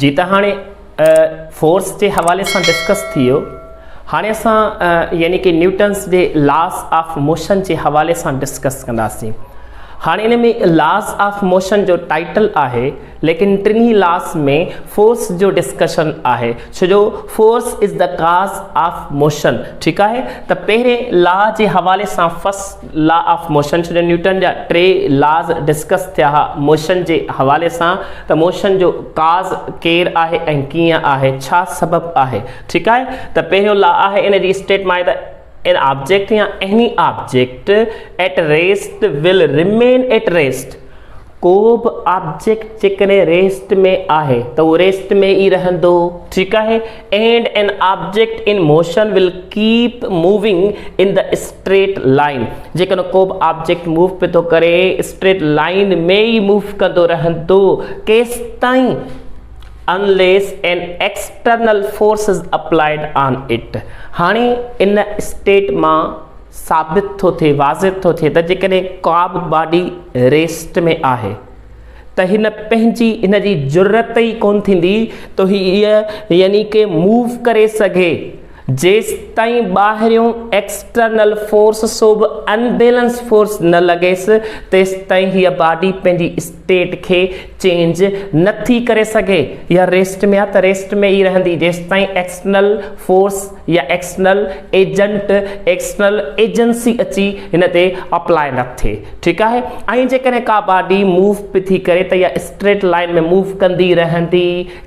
جي ته هاڻي فورس جي حوالي سان ڊسڪس ٿي ويو هاڻي اسان يعني ڪي نيوٽنس جي لاس آف موشن جي حوالي سان ڊسڪس ڪنداسين هاڻي ان ۾ لاس آف موشن جو ٽائيٽل آهي ليڪن ٽنهي لاس ۾ فورس جو ڊسڪشن آهي ڇو جو force is the cause of motion ٺيڪ آهي ته پهرين لا جي حوالي سان فس لا آف موشن سڄڻ نيوٽن جا ٽي لاز ڊسڪس ٿيا ها موشن جي حوالي سان ته موشن جو ڪاز ڪير آهي ۽ ڪيئن آهي ڇا سبب آهي ٺيڪ آهي ته پهريون لا آهي ان جي اسٽيٽ مان آهي ته ان آبجيڪٽ يا any object at rest will remain at rest ڪو به آبجيڪٽ جيڪڏهن ريسٽ ۾ آهي ته اهو ريسٽ ۾ ئي رهندو ٺيڪ آهي and an object in motion will keep moving in the straight line جيڪڏهن ڪو به آبجيڪٽ موو پي ٿو ڪري اسٽريٽ لائين ۾ ئي موو ڪندو رهندو ڪيستائين unless an external force is applied on it هاڻي ان اسٽيٽ مان ثابت ٿو ٿئي، واضح ٿو ٿئي ته جيڪڏهن ڪابه باڊي ريسٽ ۾ آهي ته هن پنهنجي ان جي جرئت ئي ڪونه ٿيندي ته هيء يعني ڪي موو ڪري سگهي جيستائين ٻاهريون ايڪسٽرنل فورس سوڀ انبيلنس فورس نه لڳيس تيستائين هيء باڊي پنهنجي ٽيٽ کي چينج نه ٿي ڪري سگهي يا ريسٽ ۾ آ ته ريسٽ ۾ ئي رهندي جيستائين ايڪسٽرنل فورس يا ايڪسٽرنل ايجنٽ ايڪسٽرنل ايجنسي اچي هن تي اپلائي نه ٿئي ٺيڪ آهي ۽ جيڪڏهن ڪا باڊي موو پي ٿي ڪري ته اها اسٽريٽ لائين ۾ موو ڪندي رهندي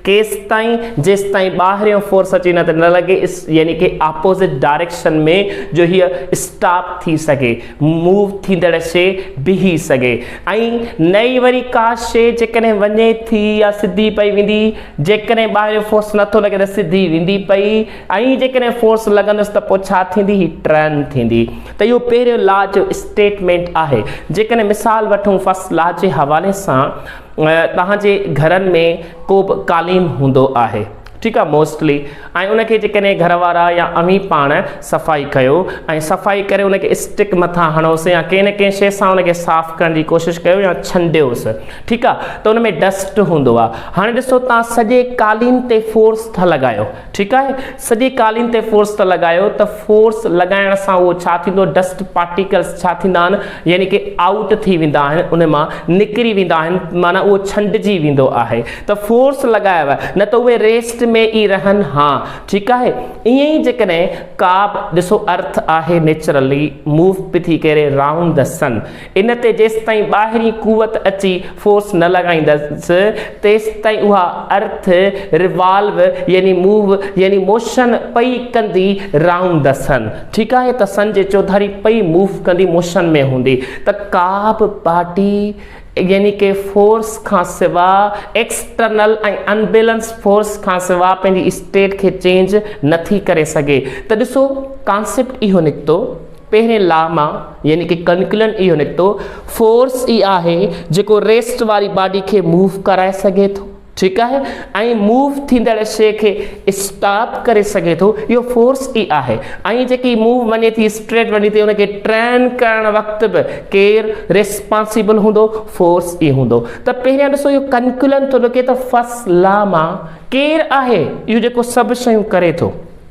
ڪيستائين جيستائين ٻاهريون فورس اچي نه ته نه لڳي يعني ڪي آپوزٽ ڊائريڪشن ۾ جو هيء اسٽاپ ٿي سگهي موو ٿيندڙ شي بيهي سگهي ۽ نه ئي وري ڪا شي جيڪڏهن وڃي ٿي يا سڌي پئي ويندي جيڪڏهن ٻاهريون فورس نٿو لڳي ته سڌي ويندي پئي ۽ جيڪڏهن فورس لڳندس ته پوء ڇا ٿيندي هي ٽرن ٿيندي ته اهو پهريون لا جو اسٽيٽمينٽ آهي جيڪڏهن مثال وٺون فرسٽ لا جي حوالي سان توهان جي گهرن ۾ ڪو به قالين هوندو آهي ٺيڪ آهي موسٽلي ۽ ان کي جيڪڏهن گهر وارا يا اوهين پاڻ صفائي ڪيو ۽ صفائي ڪري ان کي اسٽڪ مٿان هڻوس يا ڪنهن نه ڪنهن شي سان ان کي صاف ڪرڻ جي ڪوشش ڪيو يا ڇنڊيوس ٺيڪ آهي ته ان ۾ ڊسٽ هوندو آهي هاڻي ڏسو توهان سڄي قالين تي فورس ٿا لڳايو ٺيڪ آهي سڄي قالين تي فورس ته لڳايو ته فورس لڳائڻ سان اهو ڇا ٿيندو ڊسٽ پارٽيڪلس ڇا ٿيندا آهن يعني ڪي آئوٽ ٿي ويندا آهن ان مان نڪري ويندا آهن معنيٰ اهو ڇنڊجي ويندو آهي ته فورس لڳايو نه ته اهي ريسٽ ۾ ئي رهن ها ٺيڪ آهي ائين ئي جيڪڏهن ڪا به ڏسو ارٿ آهي نيچرلي موو پي ٿي ڪري رائونڊ دي سن ان تي جيستائين ٻاهرين قوت اچي فورس نه لڳائيندس تيستائين اها ارٿ ريوالو يعني موو يعني موشن پئي ڪندي رهندسن ٺيڪ آهي ته سن جي چوڌاري پئي موو ڪندي موشن ۾ هوندي ته ڪا به پارٽي يعني ڪي فورس کان سوا ايڪسٽرنل ۽ انبيلنس فورس کان سوا پنهنجي اسٽيٽ کي چينج نه ٿي ڪري سگهي ته ڏسو ڪانسيپٽ اهو نڪتو پهرين لا مان يعني ڪي ڪنڪلن اهو نڪتو فورس ئي آهي جيڪو ريسٽ واري باڊي کي موو ڪرائي سگهي ٿو ٺيڪ آهي ۽ موو ٿيندڙ شي کي اسٽاپ ڪري سگهي ٿو اهو فورس ئي آهي ۽ جيڪي موو وڃي ٿي اسٽريٽ وڃي ٿي ان کي ٽرين ڪرڻ وقت به ڪير ريسپانسيبل هوندو فورس ئي هوندو ته پهريان ڏسو اهو ڪنڪلن ٿو نڪي ته فس لا مان ڪير آهي اهو جيڪو سڀ شيون ڪري ٿو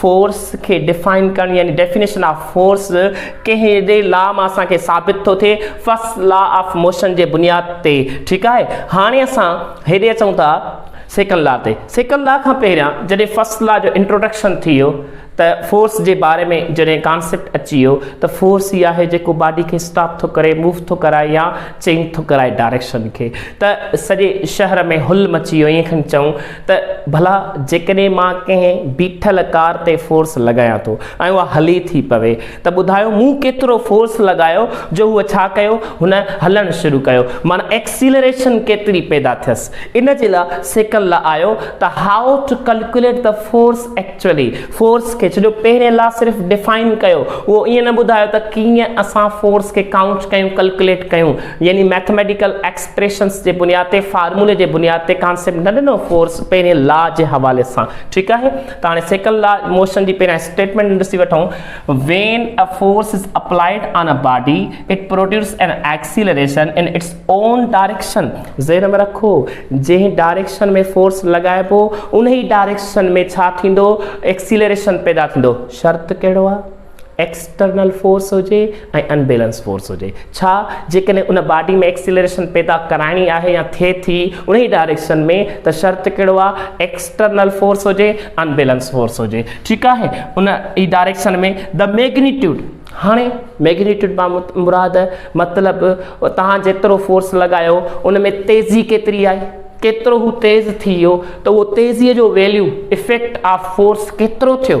فورس کي ڊيفائن ڪرڻ يعني ڊيفينيشن آف فورس ڪهڙي لا مان اسان کي ثابت ٿو ٿئي فرسٽ لا آف موشن جي بنياد تي ٺيڪ آهي هاڻي اسان هيڏي اچون ٿا سيڪنڊ لا تي سيڪنڊ لا کان پهريان جڏهن فرسٽ لا جو انٽروڊڪشن ٿي ويو ته فورس جي باري ۾ جڏهن ڪانسيپٽ اچي ويو ته فورس هي آهي جيڪو باڊي کي اسٽاپ ٿو ڪري موو ٿو ڪرائي يا چينج ٿو ڪرائي ڊائريڪشن کي ته سڄي شهر ۾ هل مچي ويو ائين کن چئون ته ڀلا جيڪڏهن مان ڪنهن بيٺل ڪار تي فورس لڳايان ٿو ۽ اها هلي ٿي پوي ته ٻڌايو مون ڪيترو فورس لڳايو جو هو ڇا ڪيو هن هلڻ شروع ڪيو معنيٰ ايڪسيلريشن ڪيتري پيدا ٿيس ان جي لاء سيکڻ لاء آيو ته هائو ٽو ڪلڪوليٽ ته فورس ايڪچوئلي فورس کي ڇڏيو پهرين لا صرف ڊفائن ڪيو اهو ائين نه ٻڌايو ته ڪيئن اسان فورس کي ڪائونٽ ڪيون ڪلڪوليٽ ڪيون يعني ميٿميٽيڪل ايڪس ايڪسپريشنس جي بنياد تي فارمولي جي بنياد تي ڪانسيپٽ نه ڏنو فورس پهرين لا جي حوالي سان ٺيڪ آهي ته هاڻي سيڪنڊ لا موشن جي پهريان اسٽيٽمينٽ ڏسي وٺون when a force is applied on a body it produce an acceleration in its own direction ذهن ۾ رکو جنهن ڊائريڪشن ۾ فورس لڳائبو انهي ڊائريڪشن ۾ ڇا ٿيندو ايڪسيلريشن پيدا ٿيندو شرط ڪهڙو آهي ايڪسٽرنل فورس هجي ۽ ان بيلنس فورس هجي ڇا جيڪڏهن ان باڊي ۾ ايڪسيلريشن پيدا ڪرائڻي آهي يا ٿئي ٿي انهي ڊائريڪشن ۾ ته شرط ڪهڙو آهي ايڪسٽرنل فورس هجي ان بيلنس فورس هجي ٺيڪ آهي ان ئي ڊائريڪشن ۾ the magnitude هاڻي ميگنيٽيوڊ مان مراد مطلب توهان جيترو فورس لڳايو ان ۾ تيزي ڪيتري آئي ڪيترو هو تيز ٿي ويو ته اهو تيزيء جو ويليو افيڪٽ آف فورس ڪيترو ٿيو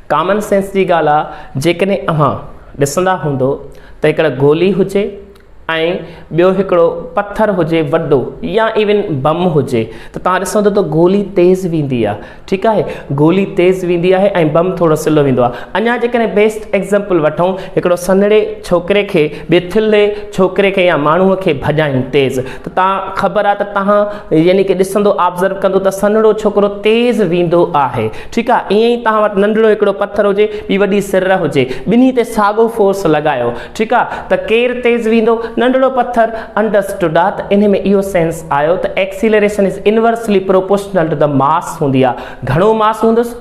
ڪامن سينس جي ڳالهه آ جيڪڏهن اوهان ڏسندا هوندو ته هڪڙه گولي هجي ۽ ٻيو هڪڙو پٿر هجي وڏو يا ايون بم هجي ته توهان ڏسندو ته گولي تيز ويندي آ ٺيڪ آهي گولي تيز ويندي آهي ۽ بم ٿورو سلو ويندو آ اڃا جيڪڏهن بيسٽ ايگزامپل وٺون هڪڙو سنهڙي ڇوڪري کي ٻي ٿلهي ڇوڪري کي يا ماڻهو کي ڀڄائين تيز تان خبر آ ته تهان يعني ڪي ڏسندو آبزرو ڪندو ته سنهڙو ڇوڪرو تيز ويندو آهي ٺيڪ آ ايئن ئي تهان وٽ ننڍڙو هڪڙو پٿر هجي ٻي وڏي سر هجي ٻنهي تي ساڳو فورس لڳايو ٺيڪ آ ته ڪير تيز ويندو ننڍڙو پٿر انڊرسٽوڊ آ ته انهي ۾ اهو سينس آيو ته acceleration is inversely proportional to ته ماس هوندي آ گهڻو ماس هوندس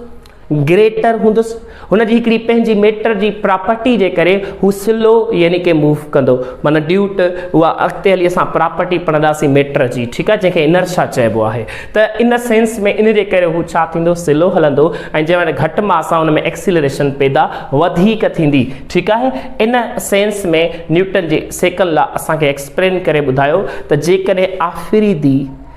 گريٽر هوندس هن جي هڪڙي پنهنجي ميٽر جي پراپرٽي جي ڪري هو سلو يعني ڪي موو ڪندو معنيٰ ڊيو ٽ اها اڳتي هلي اسان پراپرٽي پڙهنداسين ميٽر جي ٺيڪ آهي جنهن کي انرشا چئبو آهي ته ان سينس ۾ ان جي ڪري هو ڇا ٿيندو سلو هلندو ۽ جنهن وٽ گهٽ ماس آهي ان ۾ ايڪسيلريشن پيدا وڌيڪ ٿيندي ٺيڪ آهي ان سينس ۾ نيوٽن جي سيڪنڊ لا اسان کي ايڪسپلين ڪري ٻڌايو ته جيڪڏهن آفريدي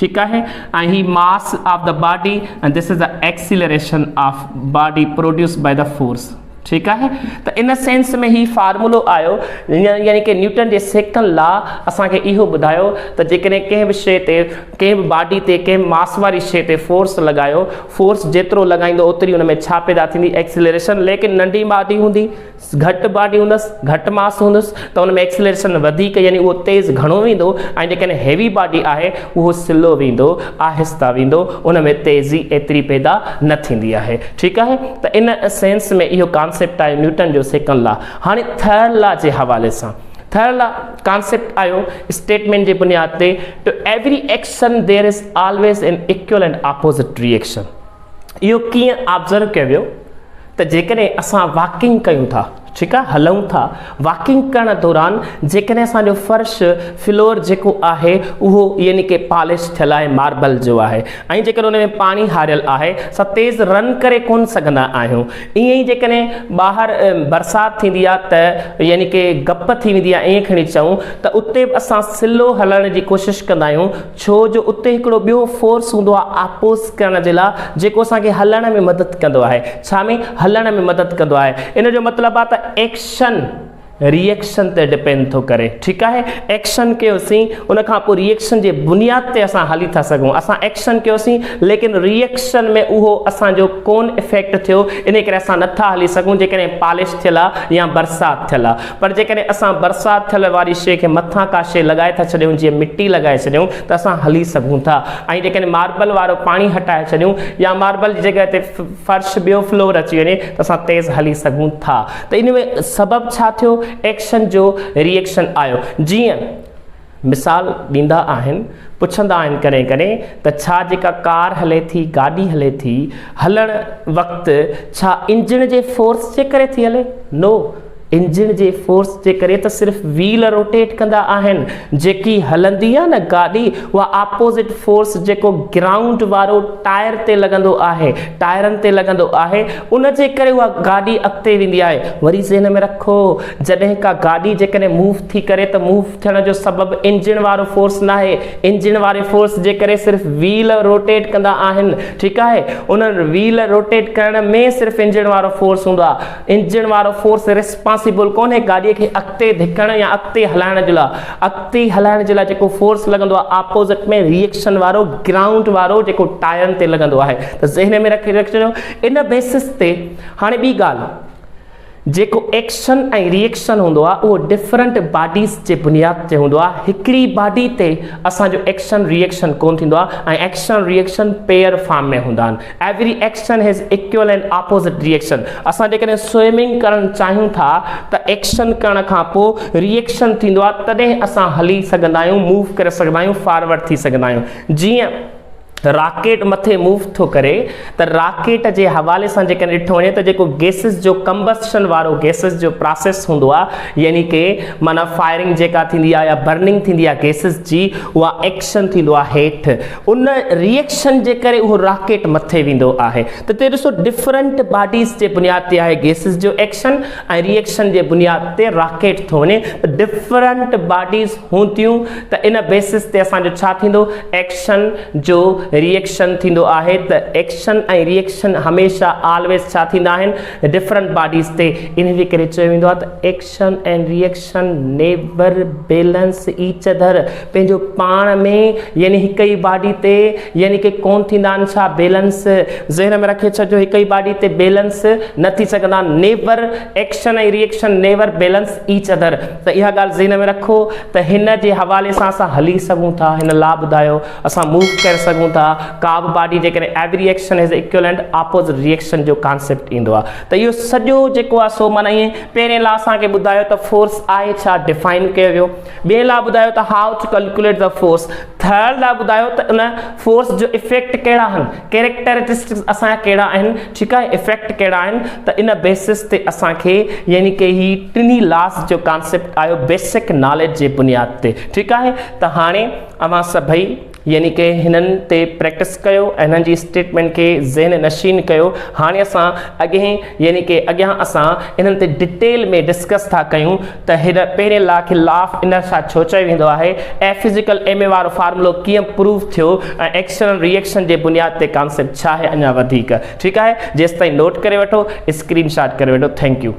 ٺيڪ آهي ۽ هي mass of the body ۽ this is the acceleration of body produced by the force ٺيڪ آهي ته ان سينس ۾ هي فارمولو آيو يعني ڪي نيوٽن جي سيڪنڊ لا اسان کي اهو ٻڌايو ته جيڪڏهن ڪنهن به شيء تي ڪنهن به باڊي تي ڪنهن ماس واري شيء تي فورس لڳايو فورس جيترو لڳائيندو اوتري ان ۾ ڇا پيدا ٿيندي ايڪسيلريشن ليڪن ننڍي باڊي هوندي گهٽ باڊي هوندس گهٽ ماس هوندس ته ان ۾ ايڪسلريشن وڌيڪ يعني اهو تيز گهڻو ويندو ۽ جيڪڏهن هيوي باڊي آهي اهو سلو ويندو آهسته ويندو ان ۾ تيزي ايتري پيدا نه ٿيندي آهي ٺيڪ آهي ته ان سينس ۾ اهو ڪانسيپٽ آهي نيوٽن جو سيڪنڊ لا هاڻي ٿرڊ لا جي حوالي سان ٿرڊ لا ڪانسيپٽ آيو اسٽيٽمنٽ جي بنياد تي to every action there is always an equal and opposite reaction اهو ڪيئن آبزرو ڪيو ويو ته جيڪڏهن اسان واڪنگ ڪيون ٿا ٺيڪ آهي هلون ٿا واڪنگ ڪرڻ دوران جيڪڏهن اسانجو فرش فلور جيڪو آهي اهو يعني ڪي پالش ٿيل آهي ماربل جو آهي ۽ جيڪڏهن ان ۾ پاڻي هاريل آهي اسان تيز رن ڪري ڪون سگهندا آهيون ائين ئي جيڪڏهن ٻاهر برسات ٿيندي آهي ته يعني ڪي گپ ٿي ويندي آهي ائين کڻي چئون ته اتي به اسان سلو هلڻ جي ڪوشش ڪندا آهيون ڇو جو اتي هڪڙو ٻيو فورس هوندو آهي آپوز ڪرڻ جي لاء جيڪو اسان کي هلڻ ۾ مدد ڪندو آهي ڇا ۾ هلڻ ۾ مدد ڪندو آهي ان جو مطلب آهي ته ايڪشن ريئڪشن تي ڊپينڊ ٿو ڪري ٺيڪ آهي ايڪشن ڪيوسين ان کان پوء ريئڪشن جي بنياد تي اسان هلي ٿا سگهون اسان ايڪشن ڪيوسين ليڪن ريئڪشن ۾ اهو اسان جو ڪون افيڪٽ ٿيو ان ڪري اسان نٿا هلي سگهون جيڪڏهن پالش ٿيل آهي يا برسات ٿيل آهي پر جيڪڏهن اسان برسات ٿيل واري شيء کي مٿان ڪا شيء لڳائي ٿا ڇڏيون جيئن مٽي لڳائي ڇڏيون ته اسان هلي سگهون ٿا ۽ جيڪڏهن ماربل وارو پاڻي هٽائي ڇڏيون يا ماربل جي جڳهه تي فرش ٻيو فلور اچي وڃي ته اسان تيز هلي سگهون ٿا ته ان ۾ سبب ڇا ٿيو ايڪشن جو ري ايڪشن آيو جيئن مثال ڏيندا آهن، پڇندا آهن ڪڏهن ڪڏهن ته ڇا جيڪا ڪار هلي ٿي، گاڏي هلي ٿي، هلڻ وقت ڇا انجڻ جي فورس جي ڪري ٿي هلي؟ نو، انجڻ جي فورس جي ڪري ته صرف ويل روٽيٽ ڪندا آهن، جيڪي هلندي آهي نه گاڏي اها آپوزٽ فورس جيڪو گرائونڊ وارو ٽائر تي لڳندو آهي، ٽائرن تي لڳندو آهي، ان جي ڪري اها گاڏي اڳتي ويندي آهي، وري ذهن ۾ رکو. جڏهن ڪا گاڏي جيڪڏهن موو ٿي ڪري ته موو ٿيڻ جو سبب انجڻ وارو فورس ناهي انجڻ واري فورس جي ڪري صرف ويل روٽيٽ ڪندا آهن ٺيڪ آهي انهن ويل روٽيٽ ڪرڻ ۾ صرف انجڻ وارو فورس هوندو آهي انجڻ وارو فورس ريسپانسيبل ڪونهي گاڏي کي اڳتي ڌڪڻ يا اڳتي هلائڻ جي لاء اڳتي هلائڻ جي لاء جيڪو فورس لڳندو آهي آپوزٽ ۾ ريئڪشن وارو گرائونڊ وارو جيڪو ٽائرن تي لڳندو آهي ته ذهن ۾ رکي رکجو ان بيسس تي هاڻي ٻي ڳالهه جيڪو ايڪشن ۽ ري ايڪشن هوندو آهي اهو ڊفرنٽ باڊيز جي بنياد تي هوندو آهي هڪڙي باڊي تي اسان جو ايڪشن ري ايڪشن ڪونه ٿيندو آهي ۽ action reaction pair form ۾ هوندا آهن every action has equal and opposite reaction اسان جيڪڏهن سوئمنگ ڪرڻ چاهيون ٿا ته ايڪشن ڪرڻ کان پوء ري ايڪشن ٿيندو آهي تڏهن اسان هلي سگهندا آهيون موو ڪري سگهندا آهيون فارورڊ ٿي سگهندا آهيون جيئن راڪيٽ مٿي موو ٿو ڪري ته راڪيٽ جي حوالي سان جيڪڏهن ڏٺو وڃي ته جيڪو گيسز جو ڪمبسٽن وارو گيسز جو پراسيس هوندو آهي يعني ڪي معنيٰ فائرنگ جيڪا ٿيندي آهي يا برننگ ٿيندي آهي گيسز جي اها ايڪشن ٿيندو آهي هيٺ ان ريئڪشن جي ڪري اهو راڪيٽ مٿي ويندو آهي ته تي ڏسو ڊفرنٽ باڊيز جي بنياد تي آهي گيسز جو ايڪشن ۽ ري ايڪشن جي بنياد تي راڪيٽ ٿو وڃي ته ڊفرنٽ باڊيز هون ٿيون ته ان بيسس تي اسان جو ڇا ٿيندو ايڪشن جو ري ايڪشن ٿيندو آهي ته ايڪشن ۽ ري ايڪشن هميشه آلويز ڇا ٿيندا آهن ڊفرنٽ باڊيز تي انهي جي ڪري چيو ويندو آهي ته action ۽ reaction connection, neither, balance, each other, پنهنجو پاڻ ۾ يعني هڪ ئي باڊي تي يعني ڪي ڪون ٿيندا آهن ڇا بيلنس ذهن ۾ رکي ڇڏجو هڪ ئي باڊي تي بيلنس نه ٿي سگهندا آهن neither action ۽ reaction neither balance each other ته اها ڳالهه ذهن ۾ رکو ته هن جي حوالي سان اسان هلي سگهون ٿا هن لا ٻڌايو اسان موو ڪري سگهون ٿا ڪا به باڊي جيڪڏهن every action has equal and opposite reaction جو ڪانسيپٽ ايندو آهي ته اهو سڄو جيڪو آهي سو معنيٰ ائين پهرين لا اسان کي ٻڌايو ته فورس آهي ڇا ڊفائن ڪيو ويو ٻئي لا ٻڌايو ته how to calculate the force third law ٻڌايو ته ان فورس جو افيڪٽ ڪهڙا آهن ڪيريڪٽرسٽڪس اسان جا ڪهڙا آهن ٺيڪ آهي افيڪٽ ڪهڙا آهن ته ان بيسس تي اسان کي يعني ڪي هي ٽنهي لاس جو ڪانسيپٽ آيو بيسڪ ناليج جي بنياد تي ٺيڪ آهي ته هاڻي اوهان سڀئي يعني ڪي هنن تي پريڪٽس ڪيو ۽ هنن جي اسٽيٽمينٽ کي ذهن نشين ڪيو هاڻي اسان اڳهين يعني ڪي اڳيان اسان انهن تي ڊيٽيل ۾ ڊسڪس ٿا ڪيون ته هن پهرين لا کي لا آف انرشا ڇو چيو ويندو آهي ۽ فزيڪل ايم اي وارو فارمولو ڪيئن پروف ٿيو ۽ ايڪشنل ري ايڪشن جي بنياد تي ڪانسيپٽ ڇا آهي اڃا وڌيڪ ٺيڪ آهي جيستائين نوٽ ڪري وٺو اسڪرين شاٽ ڪري وٺو ٿينڪ يو.